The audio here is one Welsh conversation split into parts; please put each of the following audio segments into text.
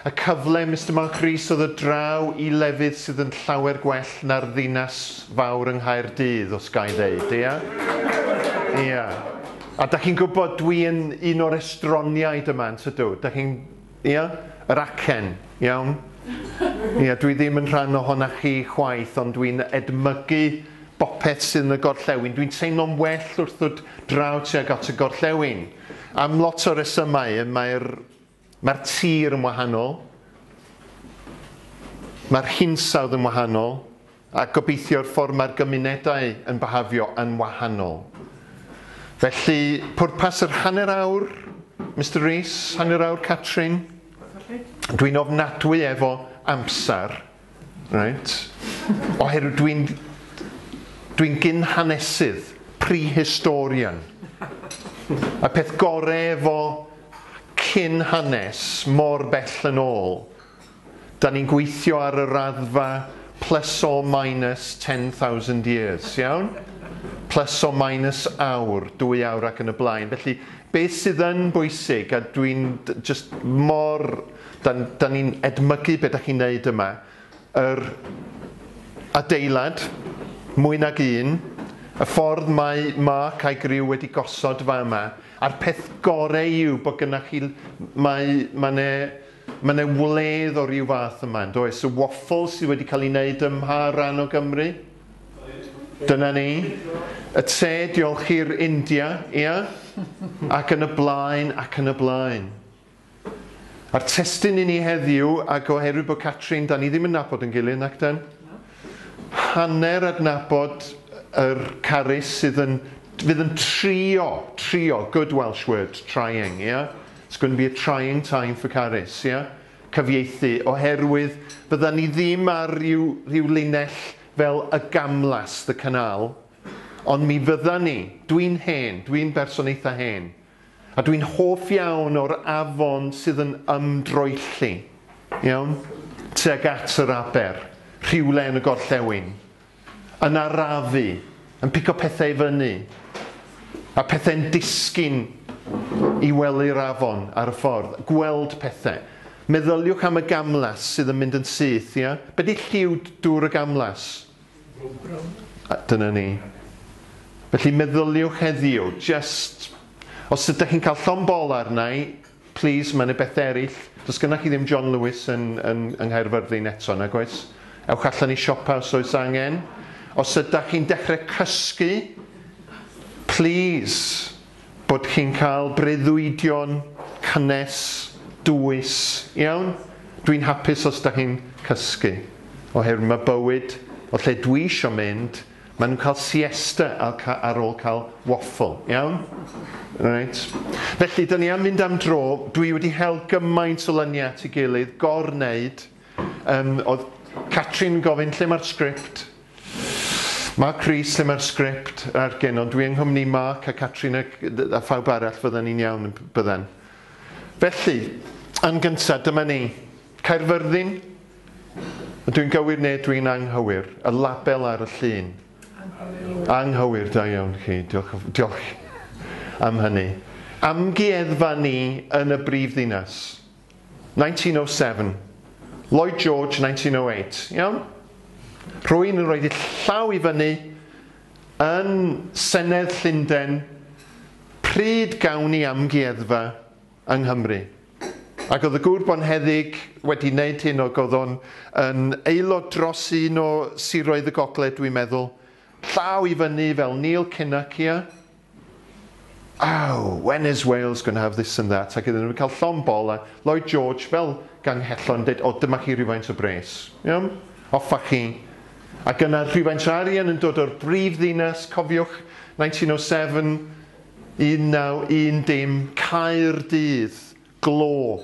Y cyfle, Mister Mark Rees, o ddod draw i lefydd sydd yn llawer gwell na'r ddinas fawr yng Nghaerdydd, os ga i ddeud, ia? Ia. A da chi'n gwybod, dwi yn un o'r estroniaid yma, yn tydw? Da chi'n... ia? Yr acen, iawn? Ia, dwi ddim yn rhan ohona chi chwaith, ond dwi'n edmygu bopeth sydd yn y gorllewin. Dwi'n teimlo'n well wrth ddod draw tuag at y gorllewin. Am lot o resymau, mae'r Mae'r tir yn wahanol, mae'r hinsawdd yn wahanol, a gobeithio'r ffordd mae'r gymunedau yn byhafio yn wahanol. Felly, pwrpas yr hanner awr, Mister Rees, hanner awr Catrin, dwi'n ofnadwy efo amser. Reit. Oherwydd dwi'n dwi'n gyn-hanesydd, prehistorian. Y peth gore efo cyn-hanes mor bell yn ôl, 'dan ni'n gweithio ar y raddfa plus or minus ten thousand years, iawn? Plus or minus awr, dwy awr ac yn y blaen. Felly, be' sydd yn bwysig, a dwi'n d- jyst mor Dan, dan ni'n edmygu be da chi'n neud yma. Yr adeilad, mwy nag un, y ffordd mae Mark a'i griw wedi gosod fa yma, a'r peth gore yw bod gynnach chi, mae, mae ne, mae ne wledd o ryw fath yma, yn does? Y waffle sydd wedi cael ei wneud ym mha ran o Gymru? Dyna ni. Y te, diolch i'r India, ia? Ac yn y blaen, ac yn y blaen. A'r testun i ni heddiw, ac oherwydd bod Catrin, dan ni ddim yn nabod yn gilydd, nac dan? Hanner adnabod yr Carys sydd yn, fydd yn trio, trio, good Welsh word, trying, ia? It's going to be a trying time for Carys, ia? Cyfieithu, oherwydd fyddan ni ddim ar ryw, ryw linell fel y gamlas, the canal, ond mi fyddan ni, dwi'n hen, dwi'n berson eitha hen, A dwi'n hoff iawn o'r afon sydd yn ymdroelli, iawn, tuag at yr aber, rhywle yn y gorllewin, yn arafu, yn pigo pethau i fyny, a pethau'n disgyn i wely'r afon ar y ffordd, gweld pethau. Meddyliwch am y gamlas sydd yn mynd yn syth, ia? Be di lliw dŵr y gamlas? A dyna ni. Felly meddyliwch heddiw, jyst, os ydych chi'n cael llond bol arna i, plis, mae yna bethau eraill, does gennych chi ddim John Lewis yn, yn, yng Nghaerfyrddin eto, nag oes? Ewch allan i siopa os oes angen. Os ydych chi'n dechrau cysgu, plis, bod chi'n cael breuddwydion cynnes, dwys, iawn? Dwi'n hapus os da chi'n cysgu, oherwydd mae bywyd, o lle dwi isio mynd, maen nhw'n cael siesta ar ôl cael waffle, iawn? Reit. Felly, da ni am mynd am dro, dwi wedi hel gymaint o lyniau at ei gilydd, gor-wneud, um, oedd Catrin yn gofyn lle mae'r sgript, Mark Rees, lle mae'r sgript a'r gyn, ond dwi yng nghwmni Mark a Catrina a phawb arall fydden ni'n iawn, bydden. Felly, yn gyntaf, dyma ni. Caerfyrddin? Ydw i'n gywir neu ydw i'n anghywir? Y label ar y llun. Anghywir. Anghywir, da iawn chi. Diolch, diolch am hynny. Amgueddfa ni yn y brifddinas. 1907. Lloyd George 1908. Iawn? Rwy'n yn rhoi'r llaw i fyny yn Senedd Llundain pryd gawn ni amgueddfa yng Nghymru. Ac oedd y gŵr bonheddig wedi wneud hyn ac oedd o'n yn aelod dros un o siroedd y gogledd dwi'n meddwl, llaw i fyny fel Neil Kinnock, ia? Oh, when is Wales going to have this and that, ac iddyn nhw cael llond bol a Lloyd George fel ganghellor yn dweud, o dyma chi rhywfaint o bres, iawn, offa chi. Ac yna rhywfaint o arian yn dod o'r brif ddinas, cofiwch 1907, 1910, dim, Caerdydd, glo,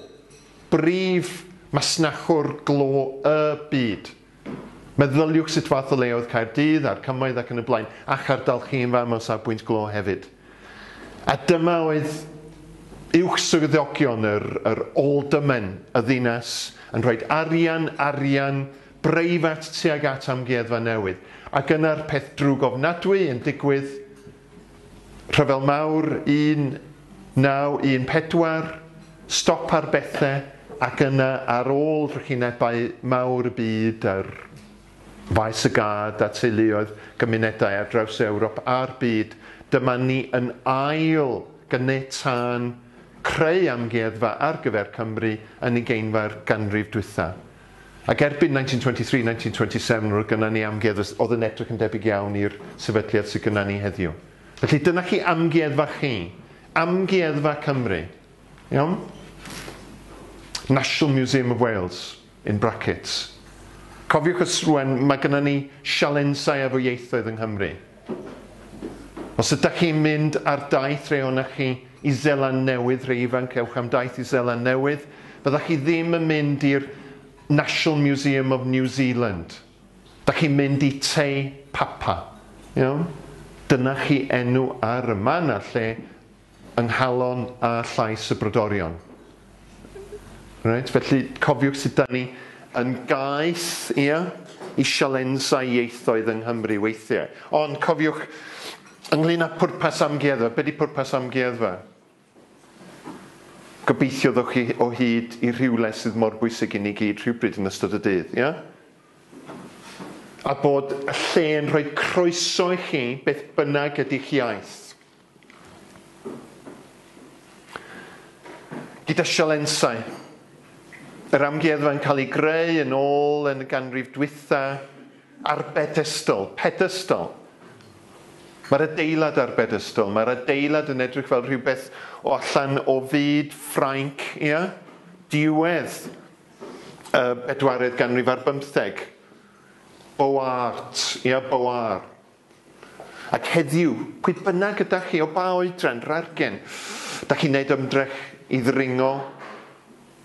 brif masnachwr glo y byd. Meddyliwch sut fath o le oedd Caerdydd, a'r cymoedd ac yn y blaen, a'ch ardal chi yn fam o safbwynt glo hefyd. A dyma oedd uwch swyddogion yr, yr aldermen y ddinas yn rhoi arian, arian breifat tuag at amgueddfa newydd. Ac yna'r peth drwg ofnadwy yn digwydd, Rhyfel Mawr 1914, stop ar bethe ac yna ar ôl drychinebau mawr y byd ar faes y gad a teuluoedd gymunedau ar draws Ewrop a'r byd, dyma ni yn ail ganiatáu'n creu amgueddfa ar gyfer Cymru yn ugeinfa'r ganrif dwytha. Ac erbyn 1923, 1927, roedd gynna ni amgueddfa oedd yn edrych yn debyg iawn i'r sefydliad sydd gynna ni heddiw. Felly dyna chi amgueddfa chi. Amgueddfa Cymru. Iawn? National Museum of Wales, in brackets. Cofiwch os rwen, mae gynna ni sialensau efo ieithoedd yng Nghymru. Os ydych chi'n mynd ar daith re ohonoch chi i Seland Newydd, rhei ifanc, ewch am daith i Seland Newydd, fyddech chi ddim yn mynd i'r National Museum of New Zealand. Da chi'n mynd i Te Papa. Iawn? Dyna chi enw ar y man a'r lle yng nghalon a llais y brodorion. Reit, felly cofiwch sut da ni yn gaeth, ia, i sialensau ieithoedd yng Nghymru weithiau. Ond cofiwch, ynglyn â pwrpas amgueddfa, be di pwrpas amgueddfa? Gobeithio ddewch chi o hyd i rhywle sydd mor bwysig i ni gyd rhywbryd yn ystod y dydd, ia? A bod y lle yn rhoi croeso i chi beth bynnag ydy'ch iaith. Gyda sialensau. Yr amgueddfa yn cael ei greu yn ôl yn y ganrif dwytha ar bedestol, pedestol. Mae'r adeilad ar bedestol, mae'r adeilad yn edrych fel rhywbeth o allan o fyd Ffrainc, ia? Diwedd y bedwaredd ganrif ar bymtheg. Boart, ia, Boart. Ac heddiw, pwy bynnag ydach chi, o ba oedran, rargen, dach chi'n neud ymdrech i ddringo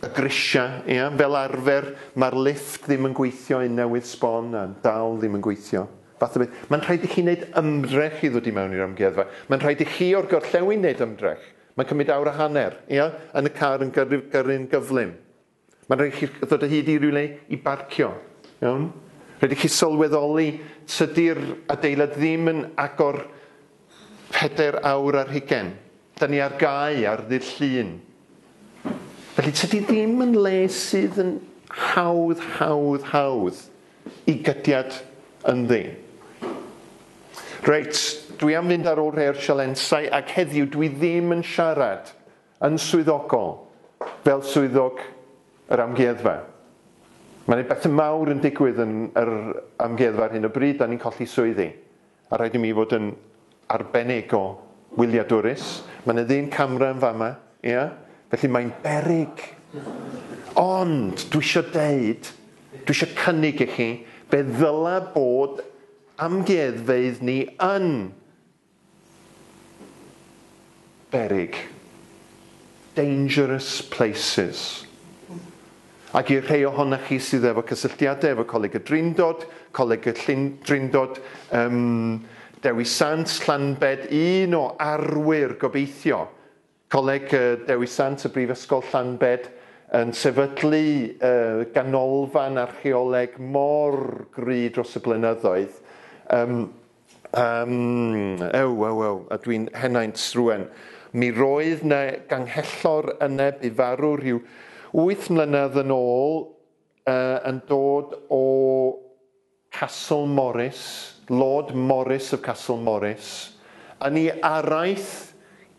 y grisia, ia? Fel arfer, ma'r lifft ddim yn gweithio un newydd sbon a dal ddim yn gweithio. Fath o beth. Ma'n rhaid i chi neud ymdrech i ddod i mewn i'r amgueddfa. Ma'n rhaid i chi o'r gorllewin neud ymdrech. Ma'n cymryd awr a hanner, ia? Yn y car yn gyrru gyrru'n gyflym. Mae'n rhaid chi ddod o hyd i rywle i barcio, iawn? Rhaid i chi sylweddoli, tydi'r adeilad ddim yn agor pedair awr ar hugain. Da ni ar gau ar ddydd Llun. Felly tydi ddim yn le sydd yn hawdd, hawdd, hawdd i gydiad ynddi. Reit, dwi am fynd ar ôl rhai o'r sialensau ac heddiw dwi ddim yn siarad Yn swyddogol, fel swyddog yr amgueddfa, mae'n ei bethe mawr yn digwydd yn yr amgueddfa ar hyn o bryd, 'da ni'n colli swyddi, a rhaid i mi fod yn arbennig o wyliadwrus. Mae 'na ddyn camra yn fama, ia? Felly mae'n beryg. Ond, dwi isio deud, dwi isio cynnig i chi, fe ddyla bod amgueddfeydd ni yn beryg, dangerous places. Ac i'r rhai ohonoch chi sydd efo cysylltiadau efo Coleg y Drindod, Coleg y Llyn Drindod, um, Dewi Sant, Llanbed, un o arwyr gobeithio Coleg Dewi Sant y Brifysgol Llanbed yn sefydlu ganolfan archeoleg mor gry dros y blynyddoedd, ym, ym, ew, ew, ew, a dwi'n henaint rŵan. Mi roedd 'na ganghellor yna bu farw rhyw wyth mlynedd yn ôl, yy, yn dod o Castle Morris, Lord Morris of Castle Morris, yn ei araith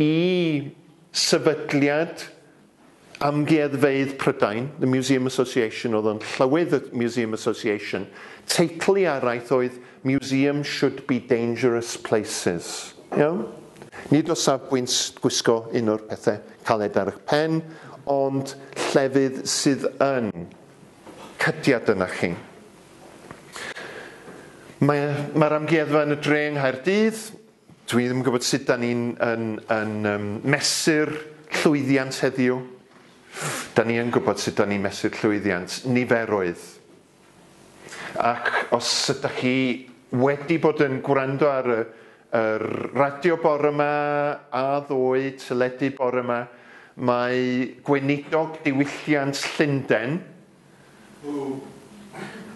i Sefydliad Amgueddfeydd Prydain, The Museum Association, oedd o'n Llywydd y Museum Association, teitl ei araith oedd Museum Should Be Dangerous Places. Iawn? Nid o safbwynt gwisgo un o'r pethe caled ar eich pen, ond llefydd sydd yn cydiad yna chi. Mae mae'r amgueddfa yn y dre yng Nghaerdydd. Dwi ddim yn gwybod sut da ni'n yn, yn, um, mesur llwyddiant heddiw. Da ni yn gwybod sut da ni'n mesur llwyddiant, niferoedd. Ac os ydych chi wedi bod yn gwrando ar y, yr radio bore yma, a ddoe, teledu bore yma, mae gweinidog diwylliant Llundain,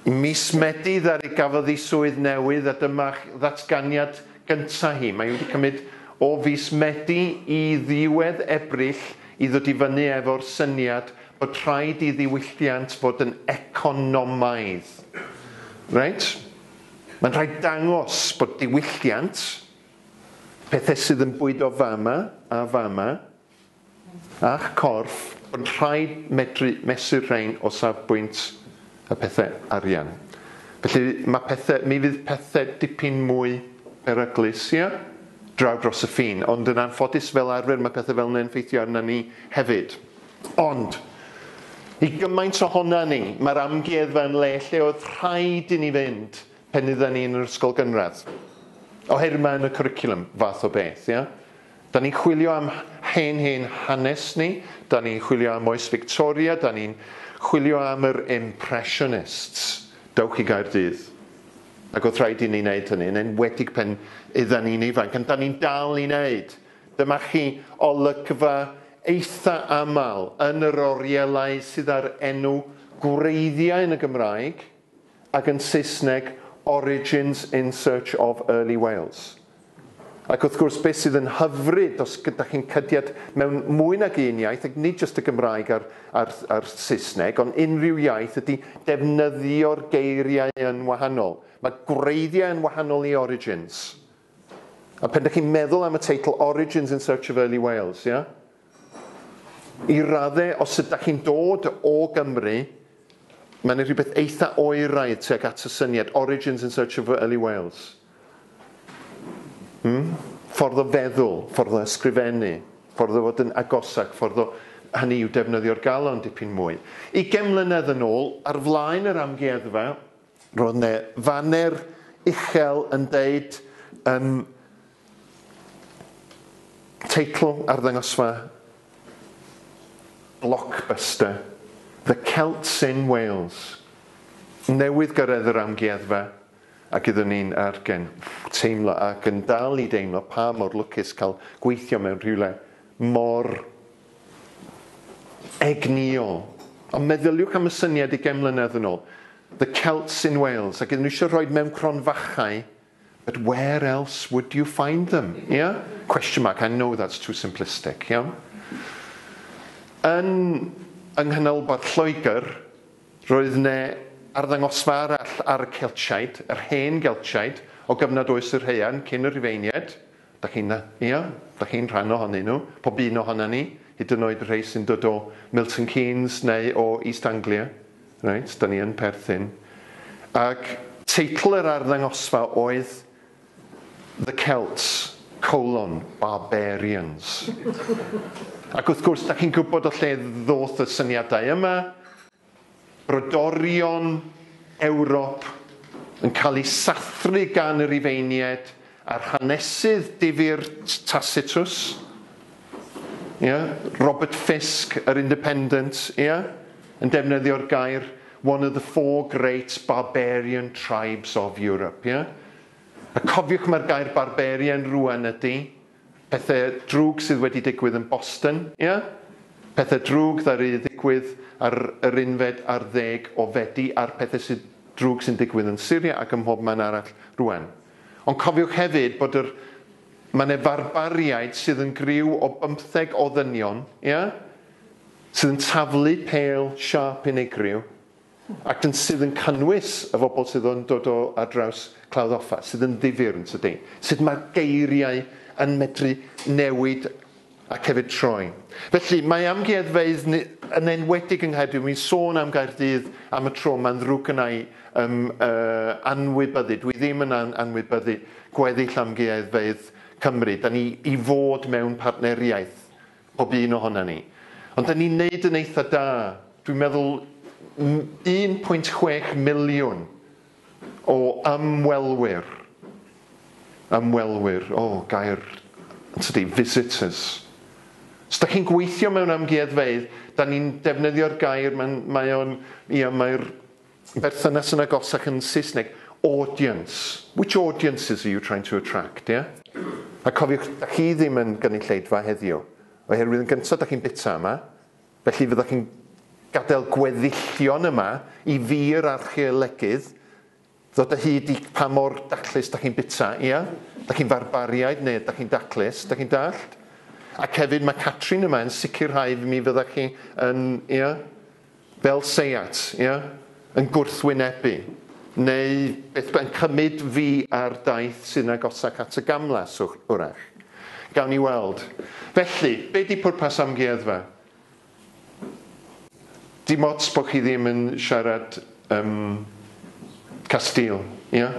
Ym mis Medi ddaru gafodd hi swydd newydd a dyma ddatganiad gynta' hi. Mae hi wedi cymryd o fis Medi i ddiwedd Ebrill i ddod i fyny efo'r syniad bod rhaid i ddiwylliant fod yn economaidd. Reit? Mae'n rhaid dangos bod diwylliant, pethe sydd yn bwydo fama a fama, a'ch corff, ond rhaid medru mesur rhein o safbwynt y pethau arian. Felly, mae pethau, mi fydd pethau dipyn mwy peryglus, ia? draw dros y ffin, ond yn anffodus fel arfer mae pethau fel yna yn effeithio arna ni hefyd. Ond, i gymaint ohona ni, mae'r amgueddfa yn le lle oedd rhaid i ni fynd pen idda ni yn yr ysgol gynradd. Oherwydd mae yn y cwricwlwm, fath o beth, ia? Da ni'n chwilio am hen hen hanes ni, da ni'n chwilio am oes Victoria, da ni'n chwilio am yr Impressionists. Dewch i Gaerdydd. Ac oedd rhaid i ni wneud hynny, yn enwedig pan oedden ni'n ifanc, ond da ni'n dal i wneud. Dyma chi olygfa eitha aml yn yr orielau sydd â'r enw gwreiddiau yn y Gymraeg. ac yn Saesneg Origins in Search of Early Wales. Ac wrth gwrs, beth sydd yn hyfryd os ydych chi'n cydiad mewn mwy nag un iaith, ac nid jyst y Gymraeg a'r, a'r, a'r Saesneg, ond unrhyw iaith, ydy defnyddio'r geiriau yn wahanol. Mae gwreiddiau yn wahanol i origins. A pen dych chi'n meddwl am y teitl Origins in Search of Early Wales, ia? I radde, os ydych chi'n dod o Gymru, mae yna rhywbeth eitha oeraidd tuag at y syniad Origins in Search of Early Wales. Hmm? Ffordd o feddwl, ffordd o ysgrifennu, ffordd o fod yn agosach, ffordd o hynny yw defnyddio'r galon dipyn mwy. Ugain mlynedd yn ôl, ar flaen yr amgueddfa, Roedd ne faner uchel yn deud yn teitl arddangosfa Blockbuster, The Celts in Wales, newydd gyrraedd yr amgueddfa a gyda ni'n ar gen. Teimlo ac yn dal i deimlo pa mor lwcus cael gweithio mewn rhywle mor Egnïo. Ond meddyliwch am y syniad ugain mlynedd yn ôl, The Celts in Wales, ac iddyn nhw eisiau rhoid mewn cronfachau, but where else would you find them? Ia? Question mark, I know that's too simplistic. Iawn? Yn yng nghanolbarth Lloegr, roedd ne arddangosfa arall ar y Celtiaid, yr hen Geltiaid, o gyfnod oes yr haearn, cyn y Rhufeiniaid, Dach chi'n dda. Ia, dach chi'n rhan ohonyn nhw, pob un ohonan ni, hyd yn oed y rhei sy'n dod o Milton Keynes neu o East Anglia. Reit, 'dan ni yn perthyn. Ac. Teitl yr arddangosfa oedd The Celts, colon, Barbarians. Ac wrth gwrs, dach chi'n gwybod o lle ddoth y syniadau yma, Brodorion Ewrop yn cael eu sathru gan y Rhufeiniaid a'r hanesydd difyr Tacitus, ia, Robert Fisk, yr Independent, ia, yn defnyddio'r gair one of the four great barbarian tribes of Europe, ia. A cofiwch mae'r gair barbarian rŵan ydy, Pethe drwg sydd wedi digwydd yn Boston, ia? Pethe drwg ddaru ddigwydd ar yr unfed ar ddeg o Fedi a'r pethe sy drwg sy'n digwydd yn Syria ac ym mhob man arall rŵan. Ond cofiwch hefyd bod yr ma' 'ne farbariaid sydd yn griw o bymtheg o ddynion, ia? Sydd yn taflu pêl siâp unigryw. Ac yn sydd yn cynnwys y bobl sydd yn dod o ar draws Clawdd Offa, sydd yn ddifyr yn tydi? Sut mae'r geiriau yn medru newid ac hefyd troi. Felly, mae amgueddfeydd yn enwedig yng Nghaerdydd, wi'n sôn am Gaerdydd am y tro, mae'n ddrwg gyna i um, uh, anwybyddu, dwi ddim yn an anwybyddu gweddill amgueddfeydd Cymru. Da ni i fod mewn partneriaeth Pob un ohona ni. Ond 'da ni'n neud yn eitha da. Dwi'n meddwl 1.6 miliwn o ymwelwyr, ymwelwyr, o, gair, yntydi, visitors. Os 'da chi'n gweithio mewn amgueddfeydd, 'da ni'n defnyddio'r gair, mae'n, mae o'n, ia, mae'r berthynas yn agos ac yn Saesneg, audience. Which audiences are you trying to attract, ie? A cofiwch, da chi ddim yn gynulleidfa heddiw, oherwydd yn gyntaf da chi'n bita yma, felly fydda chi'n gadael gweddillion yma i fi yr archeolegydd ddod o hyd i pa mor daclus da chi'n bita, ia? Da chi'n farbariaid neu da chi'n daclus, da chi'n dallt? Ac hefyd mae Catrin yma yn sicrhau mi fydda chi yn, ia? fel Seat, ia? yn gwrthwynebu, neu beth bynnag, yn cymryd fi ar daith sydd yn agosach at y gamlas, hwyrach. Gawn ni weld. Felly, be di pwrpas amgueddfa? Dim ots bod chi ddim yn siarad um, Castile, ia?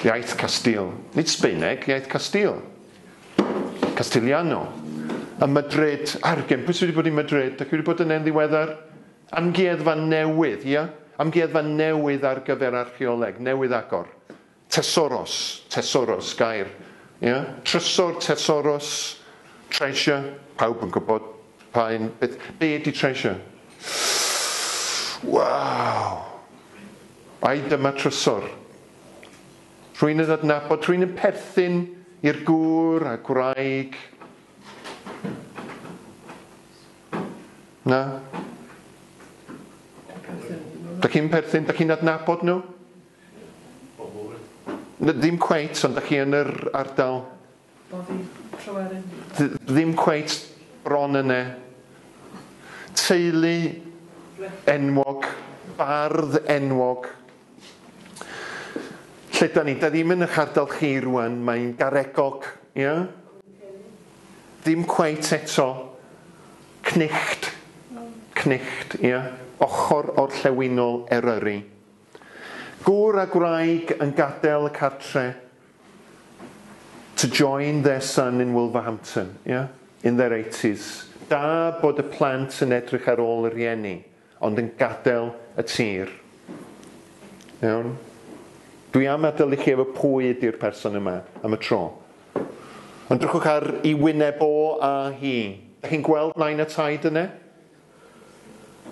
Iaith Castile. Nid Sbaeneg, iaith Castile. Castigliano, ym Madrid, argen, pwy sydd wedi bod i Madrid? Dach chi wedi bod yn e'n ddiweddar? Amgueddfa newydd, ia? Amgueddfa newydd ar gyfer archeoleg, newydd agor. Tesoros, tesoros, gair, ia? Trysor, tesoros, treasure, pawb yn gwybod pa un, beth, be ydi treasure? Waw! Ai dyma trysor? Rwy'n yn adnabod, rwy'n yn perthyn i'r gŵr a gwraig. Na? Da chi'n perthyn, da chi'n adnabod nhw? Ddim cweit, ond da chi yn yr ardal. Bod fi trwar yn hi. Dw ddim cweit bron yne. Teulu enwog, bardd enwog. Lle da ni? Da ddim yn ych ardal chi rwan, mae'n garegog, ia? Ddim cweit eto. Cnicht, cnicht, ia? Ochr orllewinol Eryri. Gŵr a gwraig yn gadael y cartre to join their son in Wolverhampton, yeah? In their eighties. Da bod y plant yn edrych ar ôl y rhieni, ond yn gadael y tir. Iawn? Dwi am adael i chi efo pwy ydi'r person yma, am y tro. Ond drychwch ar i wyneb o a hi. Dych chi'n gweld nain a taid yne?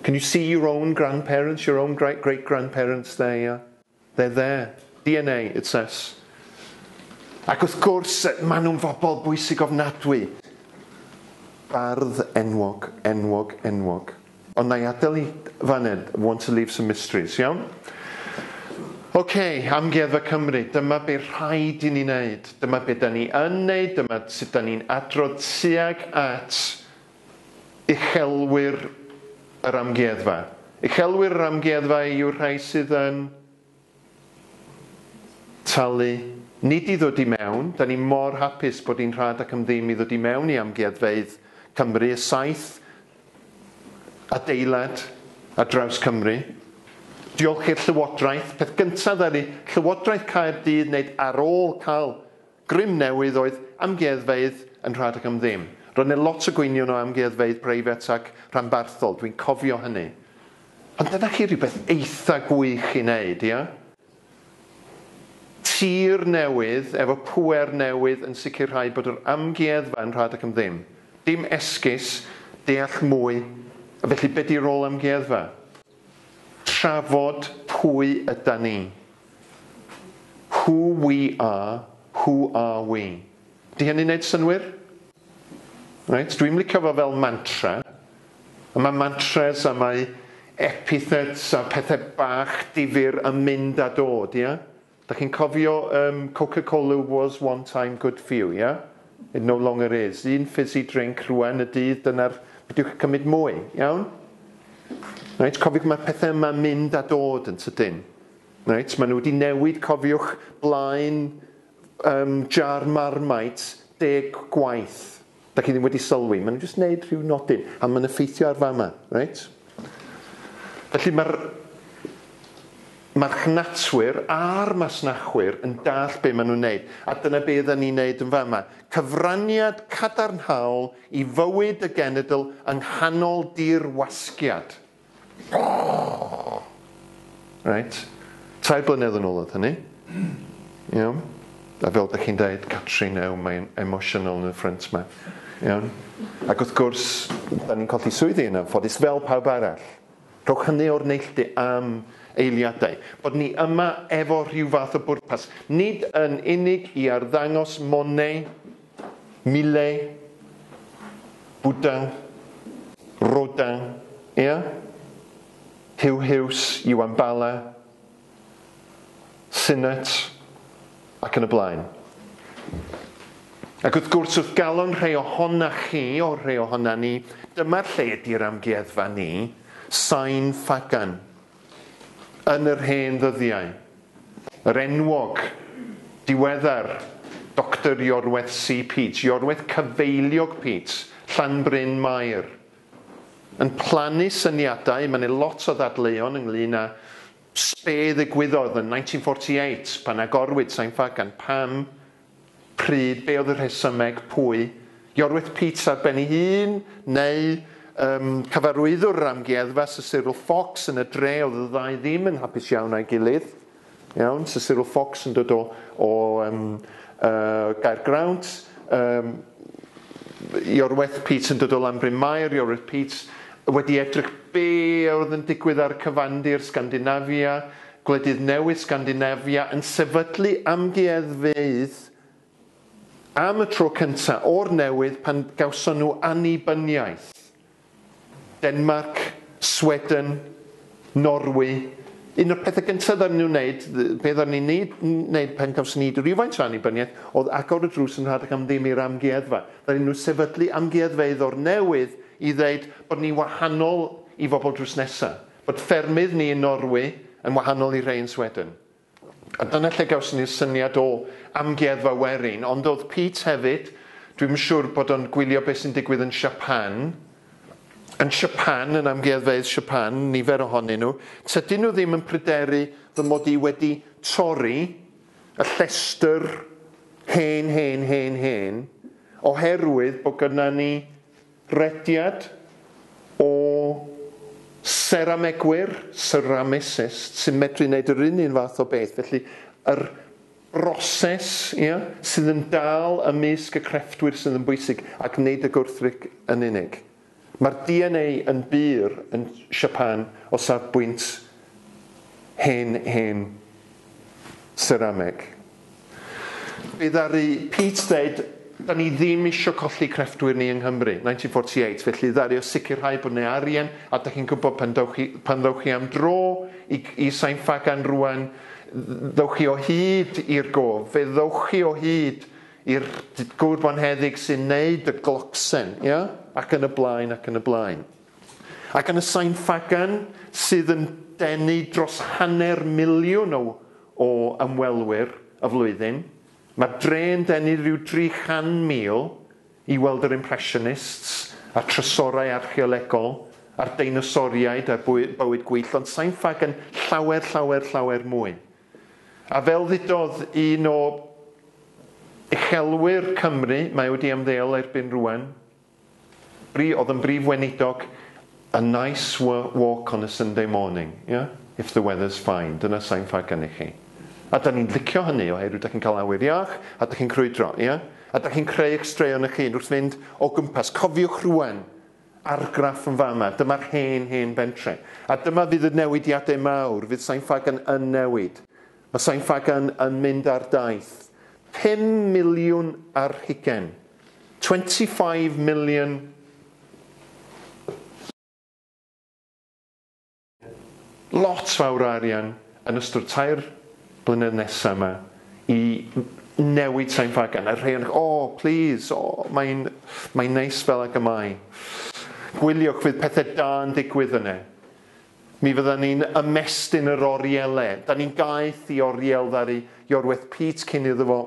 Can you see your own grandparents, your own great great grandparents there, yeah? They're there. DNA, it says. Ac wrth gwrs, maen nhw'n fobl bwysig ofnadwy. Bardd enwog, enwog, enwog. Ond na i adael i faned, want to leave some mysteries, iawn? Oce, okay, Amgueddfa Cymru, dyma be rhaid i ni wneud, dyma be da ni yn wneud, dyma sut da ni'n adrodd tuag at Uchelwyr yr Amgueddfa. Uchelwyr yr Amgueddfa yw'r rhai sydd yn talu, nid i ddod i mewn. Da ni mor hapus bod hi'n rhad ac am ddim i ddod i mewn i amgueddfeydd Cymru, y saith adeilad ar draws Cymru. Diolch i'r Llywodraeth, peth gyntaf ddaru Llywodraeth Caerdydd wneud ar ôl cael Grym newydd oedd amgueddfeydd yn rhad ac am ddim. Roedd yna lot o gwynion o amgueddfeydd preifat ac rhanbarthol, dwi'n cofio hynny. Ond dyna chi rhywbeth eitha gwych i wneud, ia? Tir newydd efo pŵer newydd yn sicrhau bod yr amgueddfa yn rhad ac am ddim. Dim esgus, deall mwy, felly be 'di rôl amgueddfa? Trafod pwy yda ni. Who we are, who are we. Di hynny'n neud synwyr? Reit, dwi'm licio fo fel mantra. A mae mantras a mae epithets a pethe bach difyr yn mynd a dod, ia? Dach chi'n cofio yym Coca Cola was one time good for you yeah? It no longer is. Un fizzy drink rwan y dydd dyna'r peidiwch a cymryd mwy, iawn? Reit cofiwch mae pethau yma'n mynd a dod yn tydyn. Reit maen nhw wedi newid cofiwch blaen um, jar marmite deg gwaith. Dach chi ddim wedi sylwi, maen nhw'n jyst wneud rhyw nodyn, a mae'n effeithio ar fama, reit? Felly mae'r marchnatwyr a'r masnachwyr yn dallt be maen nhw'n wneud, a dyna be ydan ni'n wneud yn fama, cyfraniad cadarnhaol i fywyd y genedl yng nghanol dirwasgiad. Reit. Tair blynedd yn ôl oedd hynny. Iawn? A fel dych chi'n deud, Catrin, ew, mae'n emosiynol yn y ffrynt 'ma. Iawn? Ac wrth gwrs, 'dan ni'n colli swyddi yn anffodus, fel pawb arall. Rhowch hynny o'r neilltu am eiliadau. Bod ni yma efo rhyw fath o bwrpas, nid yn unig i arddangos Monet, Mile, Bwdang, Rodang, ia? Huw Huws, Iwan Bala, Sinnott, ac yn y blaen. Ac wrth gwrs, wrth galon rhai ohona chi, o rhai ohona ni, dyma'r lle ydy'r amgueddfa ni, Sain Ffagan. Yn yr hen ddyddiau, yr enwog, diweddar, Doctor Iorwerth C. Peats, Iorwerth Cyfeiliog Peats, Llanbryn Mair, yn plannu syniadau, mae 'na lot o ddadleuon ynglŷn â be' ddigwyddodd yn 1948 pan agorwyd Sain Ffagan, pam Pryd, be oedd y rhesymeg, pwy? Iorwerth Peats ar ben ei hun, neu ym, cyfarwyddwr yr amgueddfa, Sir Cyril Fox, yn y dre oedd y ddau ddim yn hapus iawn â'i gilydd. Iawn, Sir Cyril Fox yn dod o, o um, uh, Gaergrawnt, um, Iorwerth Peats yn dod o Lanbryn Mair, Iorwerth Peats wedi edrych be oedd yn digwydd ar cyfandir Sgandinafia, Gwledydd Newydd Sgandinafia yn sefydlu amgueddfeydd am y tro cyntaf o'r newydd pan gawson nhw annibyniaeth. Denmarc, Sweden, Norwy, un o'r pethau gyntaf ddaru nhw wneud, be ddaru ni wneud, wneud pan gawson ni rywfaint o annibyniaeth, oedd agor y drws yn rhad ac am ddim i'r amgueddfa. Ddaru nhw sefydlu amgueddfeydd o'r newydd i ddeud bod ni'n wahanol i fobl drws nesaf. Bod ffermydd ni yn Norwy yn wahanol i'r rhei yn Sweden. A dyna lle gawson ni'r syniad o Amgueddfa Werin. Ond oedd Pete hefyd, dwi'm yn siŵr bod o'n gwylio beth sy'n digwydd yn Siapan. Yn Siapan, yn amgueddfeydd Siapan, nifer ohonyn nhw, tydyn nhw ddim yn pryderu fy mod i wedi torri y llestr hen, hen, hen, hen, oherwydd bod gynna ni Rhediad o seramegwyr, ceramicists, sy'n medru neud yr un un fath o beth, felly yr broses, ia, sydd yn dal ymysg y crefftwyr sydd yn bwysig, ac nid y gwrthryc yn unig. Mae'r DNA yn bur yn Siapan o safbwynt hen hen serameg. Fe ddaru Pete ddeud, 'Da ni ddim isio colli crefftwyr ni yng Nghymru', 1948, felly ddaru o sicrhau bod 'na arian, a dych chi'n gwybod pan ddewch chi pan ddewch chi am dro i i Sain Ffagan rŵan, ddewch chi o hyd i'r gof, fe ddewch chi o hyd i'r gŵr bonheddig sy'n wneud y glocsen, ia? Ac yn y blaen, ac yn y blaen. Ac yn y Sain Ffagan, sydd yn denu dros hanner miliwn o o ymwelwyr y flwyddyn. Mae'r dre yn denu rhyw 300,000 i weld yr Impressionists, a'r trysorau archeolegol, a'r deinosoriaid a'r bywyd gwyllt, ond sai'n fag yn llawer, llawer, llawer mwy. A fel ddudodd un o uchelwyr Cymru, mae wedi ymddeol erbyn rwan, Ri oedd yn brif weinidog a nice walk on a Sunday morning, yeah? If the weather's fine, dyna sain ffair gennych chi. A da ni'n licio hynny oherwydd da chi'n cael awyr iach a da chi'n crwydro, ie? A da chi'n creu eich straeon eich hun wrth fynd o gwmpas. Cofiwch rwan, argraff yn fama, dyma'r hen, hen bentre. A dyma fydd y newidiadau mawr, fydd Sain Ffagan yn newid. Mae Sain Ffagan yn mynd ar daith. Pum miliwn ar hugen. 25 million lot fawr o arian yn ystod tair blynedd nesa yma i newid Sain Ffagan. A rhai o'n oh, o, plîs, o, mae'n mae neis fel ag y mae. Gwyliwch, fydd pethau da yn digwydd yna. Mi fydda ni'n ymestyn yr orielau. Da ni'n gaeth i oriel ddaru Iorwerth Pete cyn iddo fo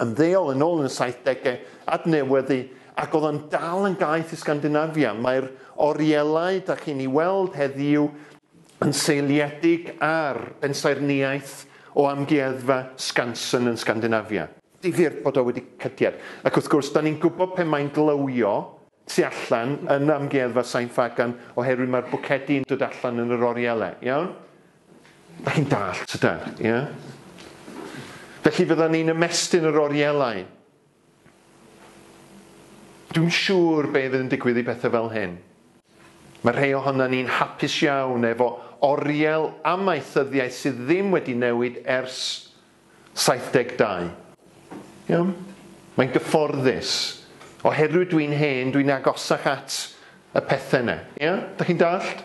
yn ddeol yn ôl yn y saithdegau, adnewyddu, ac oedd o'n dal yn gaeth i Sgandinafia. Mae'r orielau da chi'n ei weld heddiw yn seiliedig ar bensaernïaeth o amgueddfa Skansen yn Sgandinafia. Difyr bod o wedi cydied. Ac wrth gwrs, da ni'n gwybod pe mae'n glywio, tu allan yn Amgueddfa Sain Ffagan oherwydd mae'r bwcedi yn dod allan yn yr oriele, iawn? Dach chi'n dallt, tydan? Ie? Felly fyddan ni'n ymestyn yr orielau. Dwi'n siŵr be fydd yn digwydd i bethau fel hyn. Mae rhai ohonan ni'n hapus iawn efo oriel amaethyddiaeth sydd ddim wedi newid ers 72. Iawn? Mae'n gyfforddus. Oherwydd dwi'n hen, dwi'n agosach at y pethe 'ne. Ia? Dach chi'n dallt?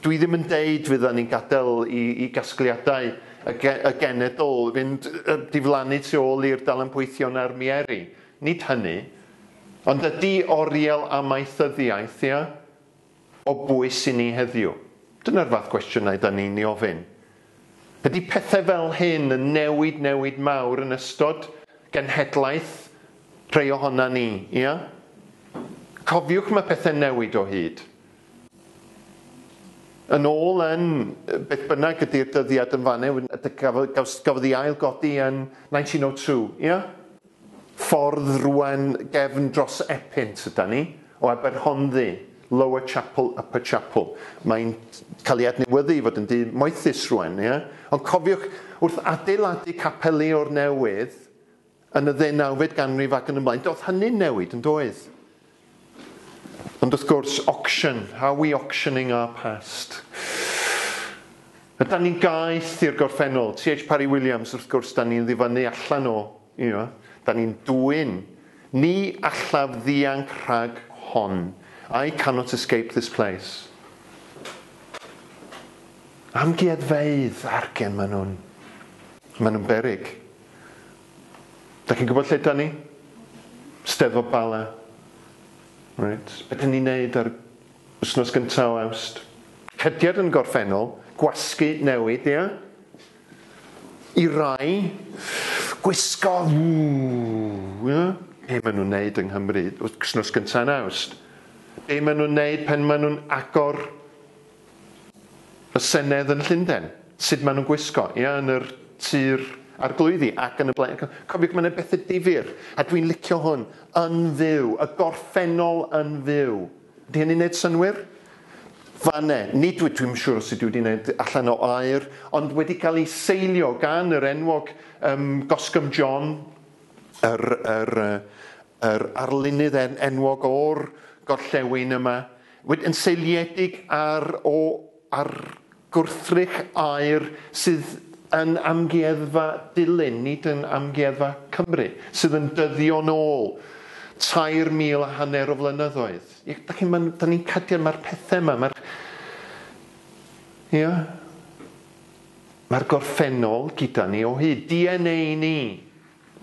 Dwi ddim yn deud fyddan ni'n gadel i i gasgliadau y ge- y genedl fynd yy diflannu tu ôl i'r dalenpoethion a'r mieri. Nid hynny. Ond ydi oriel amaethyddiaeth, ia? o bwys i ni heddiw? Dyna'r fath gwestiynau 'da ni'n 'i ofyn. Ydi pethau fel hyn yn newid newid mawr yn ystod genhedlaeth rhei ohona ni, ia? Cofiwch mae pethau'n newid o hyd. Yn ôl yn beth bynnag ydi'r dyddiad yn fan 'na, gafodd gafodd ei ail-godi yn 1902, ia? Ffordd rwan gefn dros Epynt yda ni, o Aberhonddu, Lower Chapel, Upper Chapel. Mae'n cael ei adnewyddu i fod yn dŷ moethus rwan, ie? Ond cofiwch, wrth adeiladu capeli o'r newydd yn y ddeunawfed ganrif ac yn y blaen, doedd hynny'n newid, yn doedd? Ond wrth gwrs, auction, are we auctioning our past? Ydan ni'n gaeth i'r gorffennol? TH Parry Williams, wrth gwrs, da ni'n ddifynnu allan o, you know, da ni'n dwyn. Ni allaf ddianc rhag hon. I cannot escape this place. Amgueddfeydd, argen maen nhw'n, maen nhw'n beryg. Dach chi'n gwybod lle dan ni? Steddfod Bala. Reit, be dan ni'n neud ar wsnos gynta o Awst? Cediad yn gorffennol, gwasgu newid, ia? I rai, gwisgo, ww, ia? Be maen nhw'n neud yng Nghymru wsnos gynta yn Awst? Be maen nhw'n neud pan maen nhw'n agor Y Senedd yn Llunden, sut maen nhw'n gwisgo, ia, yn yr Tir Arglwyddi ac yn y blaen. Cofiwch, mae yna bethe difyr, a dwi'n licio hwn, yn fyw, y gorffennol yn fyw. Ydy hynny'n neud synwyr? Fane, nid wyt, dwi'm yn siŵr os ydw i wedi neud allan o air, ond wedi cael ei seilio gan yr enwog ym Goscombe John, yr, yr, yr arlunydd en- enwog o'r gorllewin yma. Yn seiliedig ar o ar gwrthrych aer sydd yn Amgueddfa Dulyn, nid yn Amgueddfa Cymru, sydd yn dyddio nôl tair mil a hanner o flynyddoedd. Ie, dach chi'n ma' da ni'n cadio ma'r pethe yma, ma'r ia, ma'r gorffennol gyda ni o hyd. DNA ni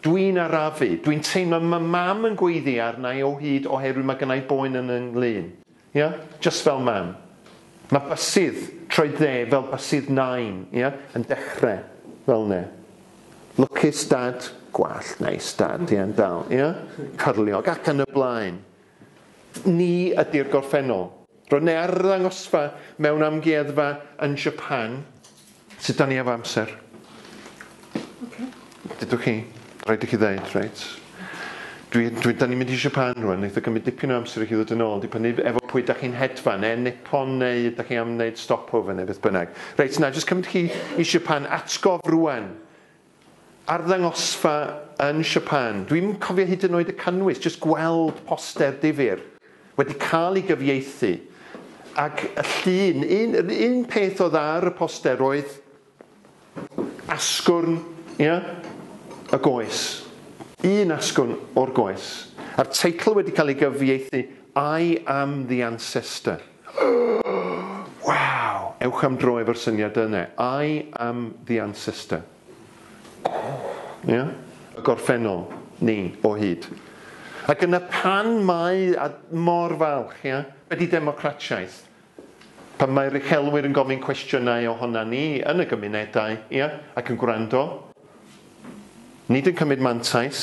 Dwi'n arafu. Dwi'n teimlo ma mam yn gweiddi arnai o hyd oherwydd ma gynnai boen yn yn nglun. Ia? Jyst fel mam. Ma bysydd troed dde fel bysydd nain, ia? Yn dechre fel ne. Lwcus dad, gwallt neis dad, ia? Yn dal, ia? Cyrliog ac yn y blaen. Ni ydi'r gorffennol. Roedd ne arddangosfa mewn amgueddfa yn Japan. Sut dan ni efo amser? Ocê. Dudwch chi. Rhaid i chi ddeud, reit. Dwi, dwi, dan ni'n mynd i Japan rwan, neith o gymryd dipyn o amser i chi ddod yn ôl, dibynnu efo pwy dach chi'n hedfan, ne Nippon neu ydach chi am wneud stopover neu beth bynnag. Reit, na, jyst cymryd chi i Japan, atgof rwan. Arddangosfa yn Siapan. Dwi'm yn cofio hyd yn oed y cynnwys, jyst gweld poster difyr wedi cael ei gyfieithu ac y llun, un, yr un peth oedd ar y poster oedd asgwrn, ia? y goes. Un asgwrn o'r goes. A'r teitl wedi cael ei gyfieithu I am the ancestor. Waw! Ewch am dro efo'r syniad yna. I am the ancestor. Ia? Y gorffennol, ni, o hyd. Ac yna pan mae, a mor falch, ia? Be di democratiaeth? Pan mae'r uchelwyr yn gofyn cwestiynau ohona ni yn y gymunedau, ia? Ac yn gwrando. Nid yn cymryd mantais.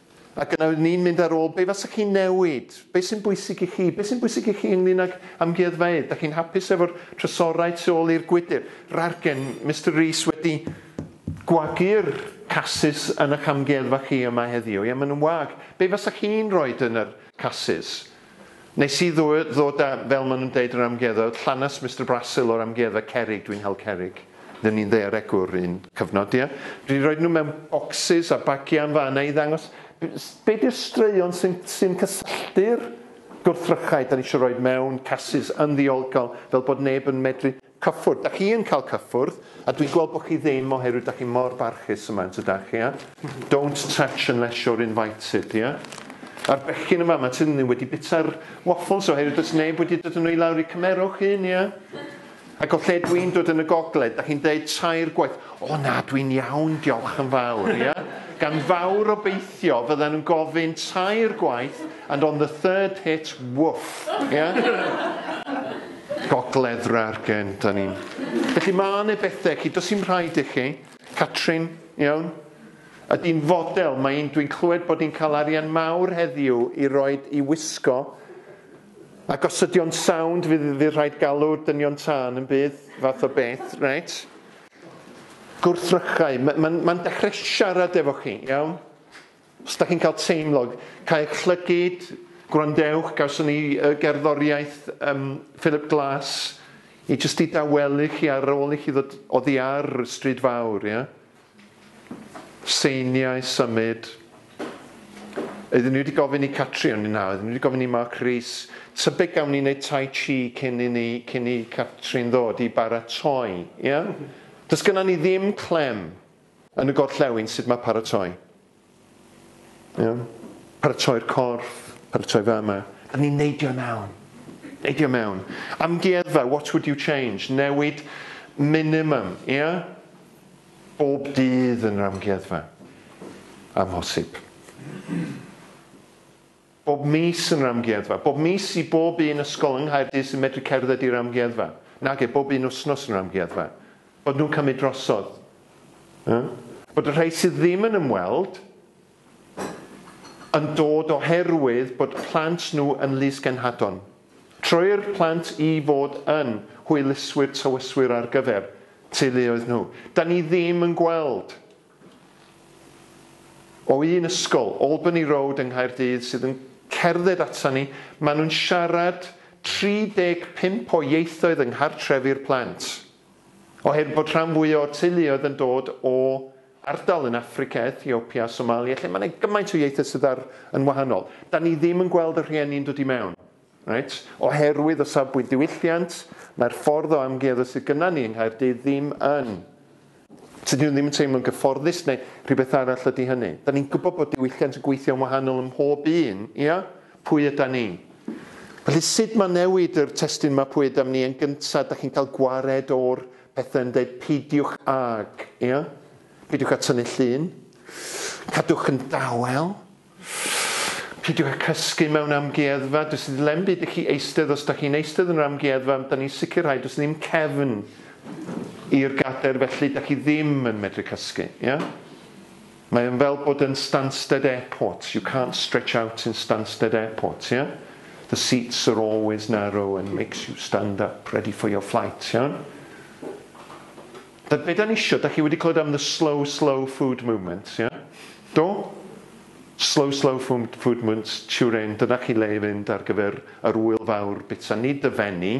A dyna oeddwn i'n mynd ar ôl, be fasa chi'n newid? Be sy'n bwysig i chi? Be sy'n bwysig i chi ynglyn ag amgueddfeydd? Dach chi'n hapus efo'r trysorau tu ôl i'r gwydr? Rargen, Mister Rees wedi gwagu'r casys yn ych amgueddfa chi yma heddiw. Ie, maen nhw'n wag. Be fasa chi'n roid yn yr casys? Nes i ddod a, fel ma nhw'n deud yr amgueddfa, llanast Mister Brasil o'r amgueddfa cerrig, dwi'n hel cerrig. Ry'n ni'n ddaearegwr un cyfnod, ie? Dwi 'di roid nhw mewn bocsys a bagiau yn fan 'na i ddangos be di'r straeon sy'n sy'n cysylltu'r gwrthrychau 'dan ni isio roid mewn casys yn ddiolgol fel bod neb yn medru Cyffwrdd. Dach chi yn cael cyffwrdd, a dwi'n gweld bod chi ddim oherwydd dach chi mor barchus yma, yn tydach, ia? Don't touch unless you're invited, ia? A'r bechgyn yn fama, tydyn nhw wedi bita'r waffles oherwydd does neb wedi dod yn nhw i lawr i cymerwch un, ia? Ac o lle dwi'n dod yn y gogledd, dach chi'n deud tair gwaith, o na, dwi'n iawn, diolch yn fawr, ia? Gan fawr obeithio fyddan nhw'n gofyn tair gwaith, And on the third hit, woof! Ia? Gogledd Rargen 'dan ni'n. Felly ma' 'ne bethe cyn does dim rhaid i chi. Catrin, iawn? Ydi'n fodel, mae 'i'n dwi'n clywed bod 'i'n cael arian mawr heddiw i roid i wisgo a gosydio'n sownd fydd fydd rhaid galw dynion tân yn bydd fath o beth, reit? Gwrthrychau, ma' ma'n ma'n dechre siarad efo chi, iawn? Os dach chi'n cael teimlo, caewch llygid, gwrandewch, gawson ni y gerddoriaeth um, Philip Glass i jyst i dawelu chi ar ôl i chi ddod oddi ar Stryd Fawr, ia? Seiniau, symud. Oedden ni wedi gofyn i Catri o'n i na, oedden ni wedi gofyn i Mark Rees, tybed gawn ni wneud tai chi cyn i ni, cyn i Catri'n ddod i baratoi, ia? Does gynna ni ddim clem, Yn y gorllewin, sut mae paratoi? Iawn? Paratoi'r corff, paratoi fama. Yn ni'n neidio mewn. Neidio mewn. Amgueddfa, what would you change? Newid minimum, ia? Bob dydd yn yr amgueddfa. Amhosib. bob mis yn yr amgueddfa, bob mis i bob un ysgol yng Nghaerdydd sy'n medru cerdded i'r amgueddfa, nage, bob un wythnos yn yr amgueddfa, bod nhw'n cymryd drosodd. Yy? Bod y rhai sydd ddim yn ymweld yn dod oherwydd bod plant nhw yn lys-genhadon. Troi'r plant i fod yn hwyluswyr tywyswyr ar gyfer teuluoedd nhw. Da ni ddim yn gweld o un ysgol, Albany Road yng Nghaerdydd, sydd yn cerdded atan ni, maen nhw'n siarad 35 o ieithoedd yng nghartrefi'r plant. Oherwydd bod rhan fwyaf o'r teuluoedd yn dod o ardal yn Affrica, Ethiopia a Somalia lle mae 'na gymaint o ieithoedd sydd ar yn wahanol, 'dan ni ddim yn gweld y rhieni'n dod i mewn. Reit, oherwydd o safbwynt diwylliant, mae'r ffordd o amgueddfa sydd gynna ni yng Nghaerdydd ddim yn, tydi nhw ddim yn teimlo'n gyfforddus neu rhywbeth arall ydi hynny. Da ni'n gwybod bod diwylliant yn gweithio'n wahanol ym mhob un, ia? Pwy yda ni? Felly sut mae newid yr testun yma pwy ydam ni yn gyntaf, da chi'n cael gwared o'r pethau yn deud peidiwch ag, ia? Peidiwch â tynnu llun, cadwch yn dawel, Peidiwch â cysgu mewn amgueddfa, does dim yn byd i chi eistedd, os dach chi'n eistedd yn yr amgueddfa, dan ni'n sicrhau does dim cefn i'r gadair felly dach chi ddim yn medru cysgu, ia? Mae yn fel bod yn Stansted Airport, you can't stretch out in Stansted Airport, ia? The seats are always narrow and makes you stand up ready for your flight, iawn? Da be dan isio, da chi wedi clywed am the slow slow food movement, ie? Do? Slow slow food food movement, Turin, dyna chi le i fynd ar gyfer yr ŵyl fawr bita, nid dy fenni,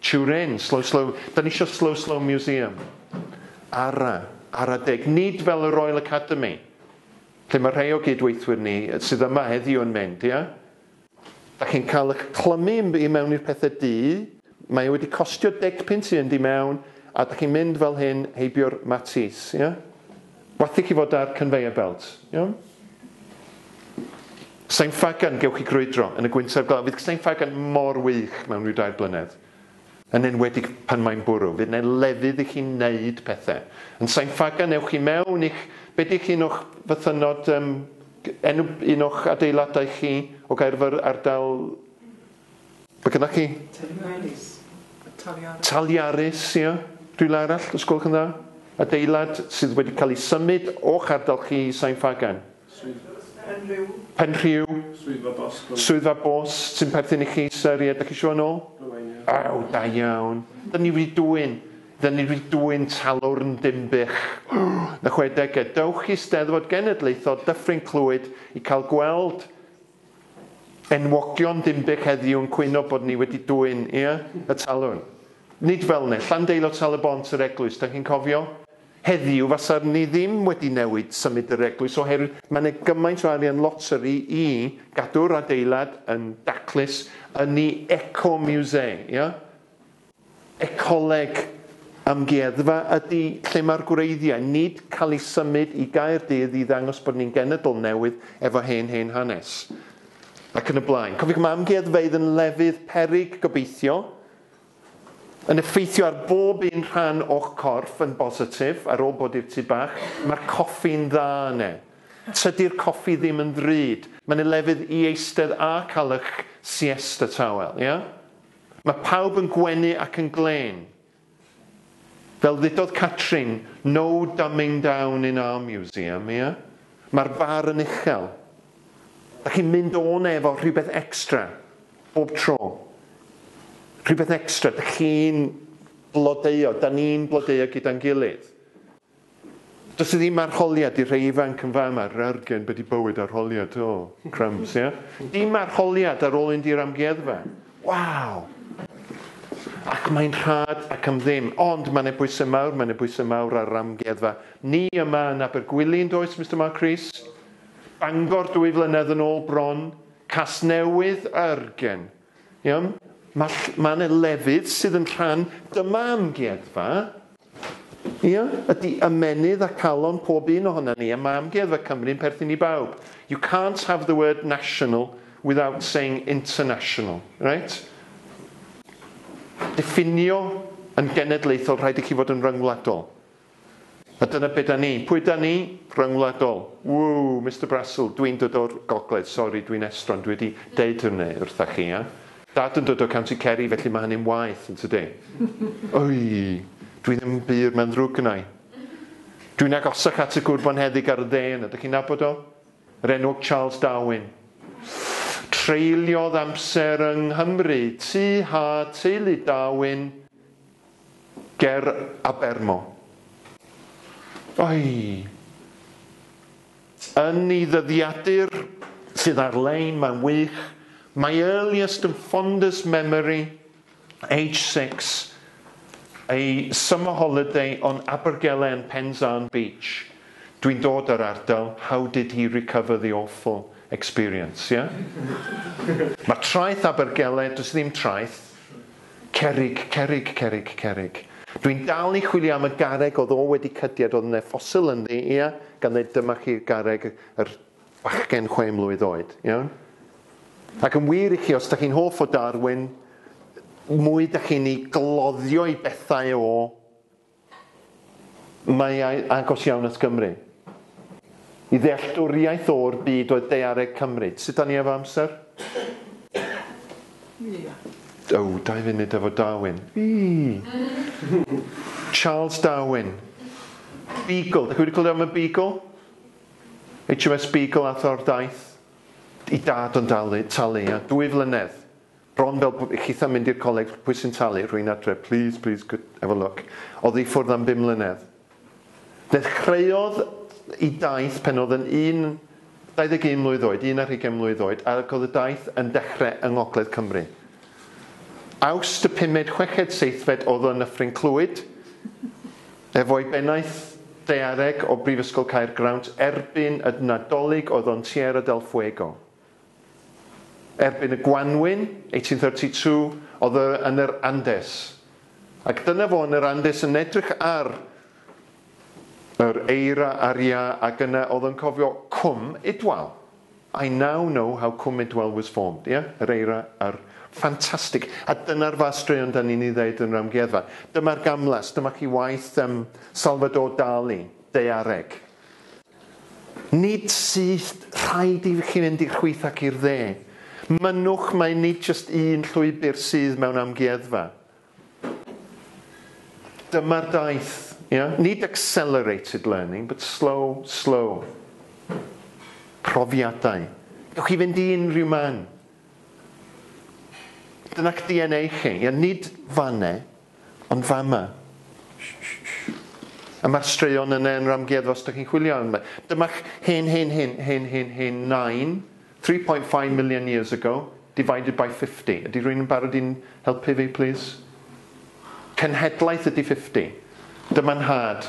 Turin, slow slow, da ni isio slow slow museum. Ara, ara deg, nid fel y Royal Academy, lle mae rhai o gyd-weithwyr ni sydd yma heddiw yn mynd, ie? Dach chi'n cael ych clymu i mewn i'r pethe du, mae e wedi costio deg punt i fynd i mewn, a dach chi'n mynd fel hyn heibio'r matis, ie? Wathi chi fod ar conveyor belt, iawn? Sain Ffagan, gewch chi grwydro yn y gwyntoedd glaw. Fydd Sain Ffagan mor wych mewn rhyw dair blynedd. yn enwedig pan mae'n bwrw, fydd 'na lefydd i chi wneud pethe. Yn Sain Ffagan ewch i mewn i'ch, be' 'di eich un o'ch fythynnod yym enw un o'ch adeiladau chi o Gaerfyrdd ardal be' gynnoch chi? Taliaris. Taliaris. Taliaris ia? Rhywle arall os gwelwch yn dda? Adeilad sydd wedi cael ei symud o'ch ardal chi i Sain Ffagan? Penrhiw. Penrhiw. Swyddfa bos Cymru. Swyddfa bos sy'n perthyn i chi Sir ie dych chi isio nôl? Aw da iawn. Dyn ni wedi dwyn. Dyn ni wedi dwyn talwrn Dinbych. Yn y chwedegau. Dewch i Steddfod Genedlaethol Dyffryn Clwyd i cael gweld enwogion Dinbych heddiw yn cwyno bod ni wedi dwyn ie? y talwrn. Nid fel ne. Llandeilo Tal-y-bont yr eglwys dych chi'n cofio? Heddiw fasa ni ddim wedi newid symud yr eglwys oherwydd mae yna gymaint o arian loteri i gadw'r adeilad yn daclus, yn i eco-musee, ia? Ecoleg amgueddfa ydi lle mae'r gwreiddiau, nid cael ei symud i Gaerdydd i ddangos bod ni'n genedl newydd efo hen hen hanes. Ac yn y blaen. Cofiwch mae amgueddfeydd yn lefydd peryg gobeithio, Yn effeithio ar bob un rhan o'ch corff yn bositif, ar ôl bod i'r tŷ bach, mae'r coffi'n dda yne. Tydi'r coffi ddim yn ddrud, mae'n y lefydd i eistedd a cael ych siesta tawel, ia? Mae pawb yn gwenu ac yn glên. Fel ddudodd Catrin, no dumbing down in our museum, ia? Mae'r bar yn uchel. Dach chi'n mynd o 'na efo rhywbeth extra bob tro. Rhywbeth extra, dach chi'n blodeuo, 'dan ni'n blodeuo gyda'n gilydd. Does 'na ddim arholiad i'r rhei ifanc yn fama, rargen be' 'di bywyd arholiad, o, crumbs, ia? Dim arholiad ar ôl mynd i'r amgueddfa. Waw! Ac mae'n rhad ac am ddim. Ond ma' 'ne bwyse mawr, ma' 'ne bwyse mawr ar yr amgueddfa. Ni yma yn Abergwili yndoes, Mister Mark Rees? Bangor dwy flynedd yn ôl bron, Casnewydd a Yrgen. Iawn? Mae ll- mae 'na lefydd sydd yn rhan, dyma amgueddfa. Ia? Ydy ymennydd a calon pob un ohonan ni, a mae amgueddfa Cymru'n perthyn i bawb. You can't have the word national without saying international. Reit? Diffinio yn genedlaethol, rhaid i chi fod yn ryngwladol. A dyna be da ni. Pwy da ni? Rhyngwladol. Ww, Mister Brasil, dw i'n dod o'r gogledd, sori, dw i'n estron, dw i wedi deud hynny wrtha chi, ia? Dad yn dod o County Kerry, felly mae hynny'n waeth, yn tydi? Ui, dw i ddim yn bur, mae'n ddrwg gynna i. Dw i'n agosach at y gwr bonheddig ar y dde yna, dych chi'n nabod o? Yr enwog Charles Darwin. Treuliodd amser yng Nghymru, tŷ ha, teulu Darwin. Ger Abermo. Oi! Yn ei ddyddiadur sydd ar-lein mae'n wych, my earliest and fondest memory, age six, a summer holiday on Abergele and Penzarn Beach. Dwi'n dod o'r ardal, how did he recover the awful experience, ie? Mae traeth Abergele, does ddim traeth, Cerrig, cerrig, cerrig, cerrig. Dw i'n dal i chwilio am y garreg oedd o wedi cydied oedd yna ffosil ynddi, ia, gan ddeud dyma chi garreg yr bachgen chwe mlwydd oed, iawn? Ac yn wir i chi, os da chi'n hoff o Darwin, mwy da chi'n i gloddio i bethau o Mae ei agos iawn at Gymru. I ddealltwriaeth o'r byd oedd daeareg Cymru. Sut da ni efo amser? O, dau funud efo Darwin. Wii! Charles Darwin. Beagle. Da chi wedi clywed am y Beagle? HMS Beagle ath o'r daith. I dad o'n dalu, talu, ia. Dwy flynedd. Bron fel bo chitha mynd i'r coleg pwy sy'n talu rwy'n adre please please could have a look Odd i ffwrdd am bum mlynedd Dechreuodd i daith pen odd yn un 21 mlwydd oed un ar hugain mlwydd oed ac odd y daith yn dechre yng ngogledd Cymru Awst y pumed chweched seithfed odd o yn Nyffryn Clwyd efo'i bennaeth daeareg o Brifysgol Caergrawnt erbyn y Nadolig oedd o'n Tierra del Fuego Erbyn y gwanwyn, 1832, oedd e yn yr Andes. Ac dyna fo yn yr Andes yn edrych ar yr eira a'r iâ ac yna oedd yn cofio Cwm Idwal. I now know how Cwm Idwal was formed, ie? Yr eira a'r... Ffantastig. A dyna'r fath straeon dan ni'n ei ddeud yn yr amgueddfa. Dyma'r gamlas, dyma chi waith yym Salvador Dali, daeareg. Nid syth, rhaid i chi fynd i'r chwith ac i'r dde. Mynnwch mai nid jyst un llwybr sydd mewn amgueddfa. Dyma'r daith. Yeah? Nid accelerated learning, but slow, slow. Profiadau. Gewch chi fynd i unrhyw man. Dyna'ch DNA chi. Yeah? Nid fannau, Ond fama. Sh-sh-sh. A mae'r straeon yna yn yr amgueddfa os ydych chi'n chwilio amdano fe. Dyma'ch hen, hen, hen, hen, hen, hen nain, 3.5 million years ago, divided by 50. Ydy rhywun yn barod i'n helpu fi, plis? Cenhedlaeth ydy 50. Dyma nhad.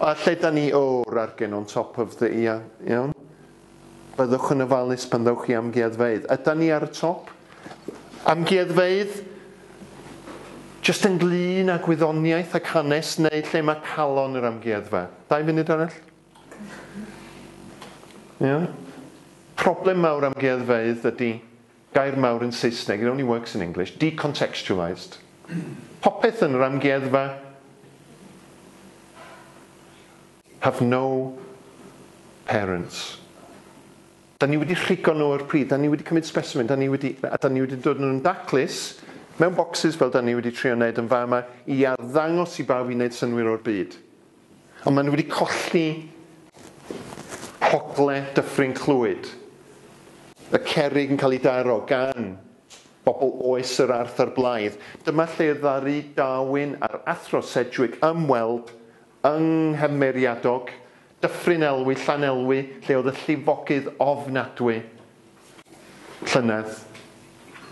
A lle da ni o'r argen on top of the ia, iawn? Byddwch yn ofalus pan ddewch i amgueddfeydd. Ydan ni ar y top? Amgueddfeydd jyst ynglŷn â gwyddoniaeth ac hanes neu lle mae calon yr amgueddfa? Dau funud arall? Iawn? Problem mawr amgueddfeydd ydy Gair mawr yn Saesneg, it only works in English, decontextualised. Popeth yn yr amgueddfa have no parents. Da ni wedi rhigo nhw o'r pridd, da ni wedi cymryd specimen, da ni wedi, a da ni wedi dod yn nhw'n daclus, mewn bocsys fel da ni wedi trio wneud yn fama, i arddangos i bawb i wneud synnwyr o'r byd. Ond maen nhw wedi colli hogle Dyffryn Clwyd. Y cerrig yn cael ei daro gan bobl oes yr Arth a'r Blaidd. Dyma lle y ddaru Darwin a'r Athro Sedgwick ymweld yng Nghymeriadog, Dyffryn Elwy, Llanelwy, lle oedd y llifogydd ofnadwy llynedd,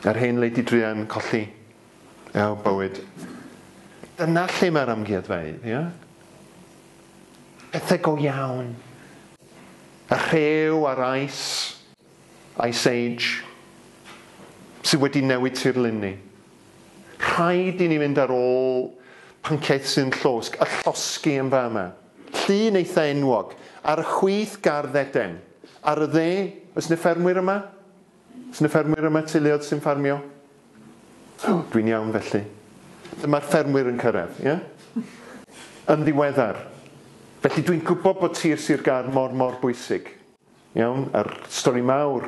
yr hen Lady Druan, colli. Our bywyd. Dyna lle mae'r amgueddfeydd, ie? Pethau go iawn. Y rhew a'r ice, ice age, sydd wedi newid tirlun ni. Rhaid i ni fynd ar ôl pynciaeth sy'n llosg, y llosgi yn fama. Llun eitha enwog, ar y chwith gardd Eden. Ar y dde, oes 'na ffermwyr yma? Sut mae ffermwyr y mae teuluoedd sy'n ffarmio? O, dwi'n iawn felly. Dyma'r ffermwyr yn cyrraedd, ie? Yn ddiweddar. Felly dwi'n gwybod bod tir Sir Gâr mor, mor bwysig. Iawn, a'r stori mawr,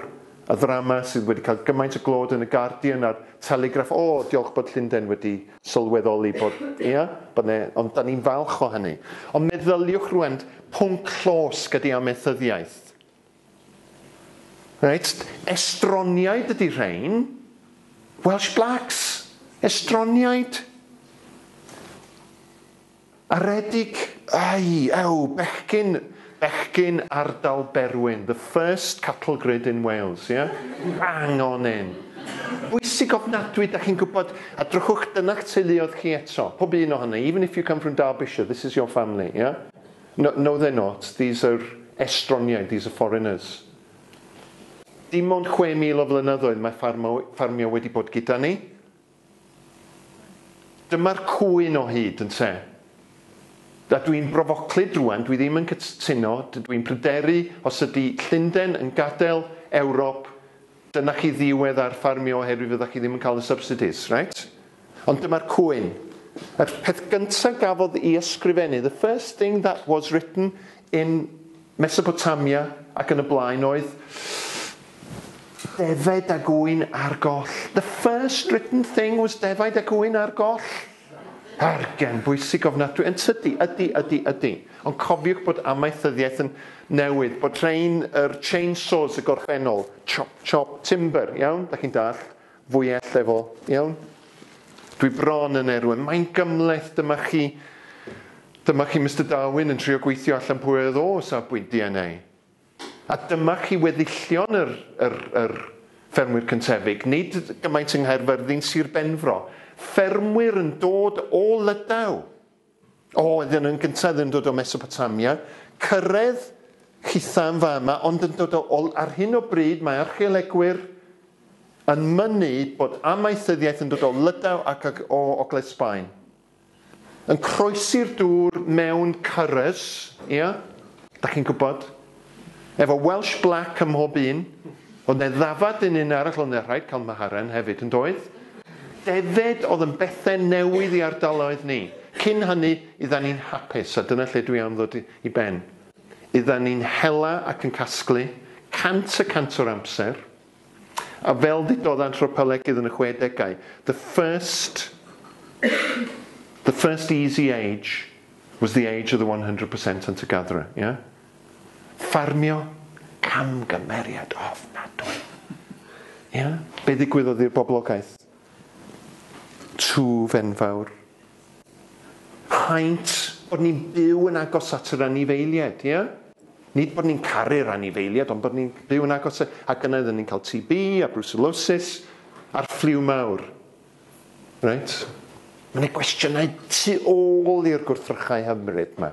y ddrama sydd wedi cael gymaint o glod yn y Guardian a'r Telegraph, o, diolch bod Llundain wedi sylweddoli bod, ia, bod 'ne, ond 'dan ni'n falch o hynny. Ond meddyliwch rŵan, pwnc llosg ydi amaethyddiaeth. Reit, estroniaid ydi rhein. Welsh blacks, estroniaid. Aredig, ei, ew, bechgyn, bechgyn ardal Berwyn, the first cattle grid in Wales, ie? Bang on in. Bwysig ofnadwy, dach chi'n gwybod, a drychwch, dyna'ch teuluoedd chi eto, pob un ohono, even if you come from Derbyshire, this is your family, ie? No, no they're not, these are estroniaid, these are foreigners. Dim ond 6,000 o flynyddoedd mae ffarmio wedi bod gyda ni. Dyma'r cŵyn o hyd, ynte? A dw i'n brofoclyd rŵan, dw i ddim yn cytuno, dw i'n pryderu os ydy Llunden yn gadael Ewrop Dyna chi ddiwedd ar ffarmio oherwydd fydda chi ddim yn cael y subsidies, reit? Ond dyma'r cwyn. Yr peth gynta gafodd i ysgrifennu, the first thing that was written in Mesopotamia ac yn y blaen oedd defaid a gŵyn ar goll. The first written thing was defaid a gŵyn ar goll. Argen bwysig ofnadwy, yn tydi? Ydi, ydi, ydi. Ond cofiwch bod amaethyddiaeth yn newid, bod rhein yr chainsaws y gorffennol, chop, chop, timber, iawn? Dach chi'n dallt? Fwyell efo, iawn? Dwi bron yn erwin. Mae'n gymhleth, dyma chi, dyma chi Mister Darwin yn trio gweithio allan pwy oedd o safbwynt DNA. A dyma chi weddillion yr yr yr ffermwyr cyntefig, nid gymaint yng Nghaerfyrddin, Sir Benfro, ffermwyr yn dod o Lydaw, o, oedden yn gyntaf yn dod o Mesopotamia, cyrredd chitha yn fama, ond yn dod o, o, ar hyn o bryd mae archeolegwyr yn mynnu bod amaethyddiaeth yn dod o Lydaw ac o Ogledd Sbaen. Yn croesi'r dŵr mewn cyrres, ia? Dach chi'n gwybod? Efo Welsh Black ym mhob un. Oedd 'na ddafad yn un arall, oedd 'na rhaid cael Maharen hefyd, yn doedd? Defaid oedd yn bethe newydd i ardaloedd ni. Cyn hynny, oeddan ni'n hapus, a dyna lle dwi am ddod i ben. Oeddan ni'n hela ac yn casglu, cant y cant o'r amser. A fel ddudodd anthropolegydd yn y chwedegau, the first the first easy age was the age of the one hundred percent hunter-gatherer, ie? Ffarmio, camgymeriad ofnadwy. Ie? Be ddigwyddodd i'r boblogaeth? Twf enfawr. Paent bod ni'n byw yn agos at yr anifeiliaid, ia? Nid bod ni'n caru'r anifeiliaid, ond bod ni'n byw yn agos, ac yna oedden ni'n cael TB a brwsilosis a'r ffliw mawr. Reit? Mae yna gwestiynau tu ôl i'r gwrthrychau hyfryd 'ma.